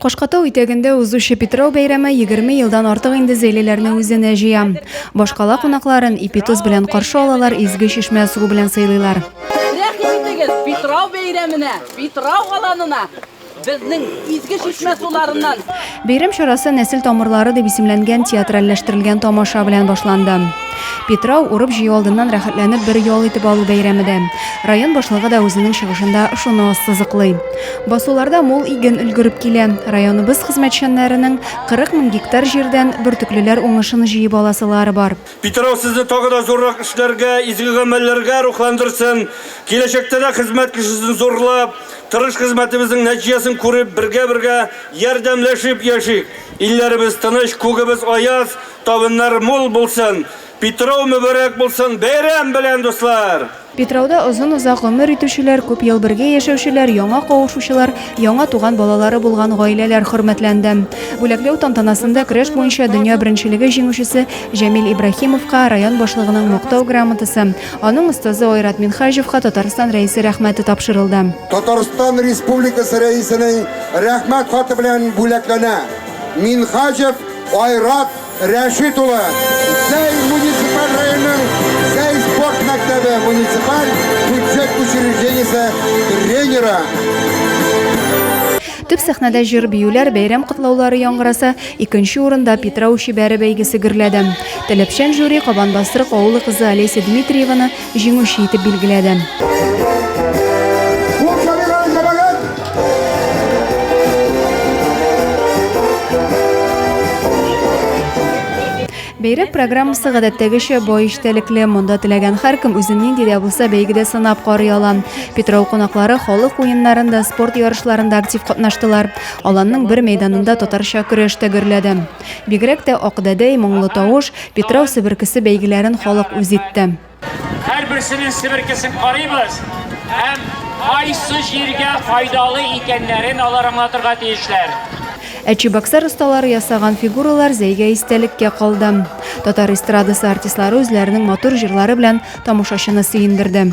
Кашкатау итәгендә узучы Питрау бәйрәме 20 елдан артык инде зәйлеләрне үзенә җыя. Башкала кунакларын ипитоз белән каршы алалар, изге чишмә суы белән сыйлыйлар. Рәхим итегез, Питрау бәйрәменә, Питрау аланына Безнең изге чишмә суларыннан. Бәйрәм чарасы Нәсел тамырлары дип исемләнгән театральләштерелгән тамаша белән башланды. Питрау урып-җыю алдыннан рәхәтләнеп бер ял итеп алу бәйрәме дә. Район башлыгы да үзенең чыгышында шуны ассызыклый. Басуларда мул иген өлгереп килә. Районыбыз хезмәтчәннәренең 40 мең гектар җирдән бөртеклеләр уңышын җыеп аласылары бар. Питрау сезне тагы да зуррак эшләргә, изге гамәлләргә рухландырсын. Киләчәктә дә хезмәт кешесен зурлап, тырыш хезмәтебезнең нәтиҗәсен күреп, бергә-бергә ярдәмләшеп яшик. Илләребез тыныч, күгебез аяз, табыннар мул булсын. Питрау мөбарәк булсын! Бәйрәм белән, дуслар! Питрауда озын-озак гомер итүчеләр, күп ел бергә яшәүчеләр, яңа кавышучылар, яңа туган балалары булган гаиләләр хөрмәтләнде. Бүләкләү тантанасында көрәш буенча дөнья беренчелеге җиңүчесе Җәмил Ибраһимовка район башлыгының Мактау грамотасы, аның остазы Айрат Минһаҗевка Татарстан Рәисе Рәхмәте тапшырылды. Татарстан Республикасы Рәисенең Рәхмәт хаты белән бүләкләнә Минһаҗев Айрат Рәшит улы, Зәй муниципаль районының Зәй спорт мәктәбе муниципаль бюджет учреждениесе тренеры. Төп сәхнәдә җыр-биюләр, бәйрәм котлаулары яңгыраса, икенче урында Питрау чибәре бәйгесе гөрләде. Таләпчән жюри Кабанбастрык авылы кызы Олеся Дмитриеваны җиңүче итеп билгеләде. Бәйрәм программасы гадәттәгечә бай эчтәлекле. Монда теләгән һәркем үзен нинди дә булса бәйгедә сынап карый ала. Питрау кунаклары халык уеннарында, спорт ярышларында актив катнаштылар. Аланның бер мәйданында татарча көрәш тә гөрләде. Бигрәк тә Акдәдәй, Моңлы тавыш, Питрау себеркесе бәйгеләрен халык үз итте. Һәрберсенең себеркесен карыйбыз һәм кайсы җиргә файдалы икәннәрен алар аңлатырга тиешләр. Ә чебоксар осталары ясаган фигуралар Зәйгә истәлеккә калды. Татар эстрадасы артистлары үзләренең матур җырлары белән тамашачыны сөендерде.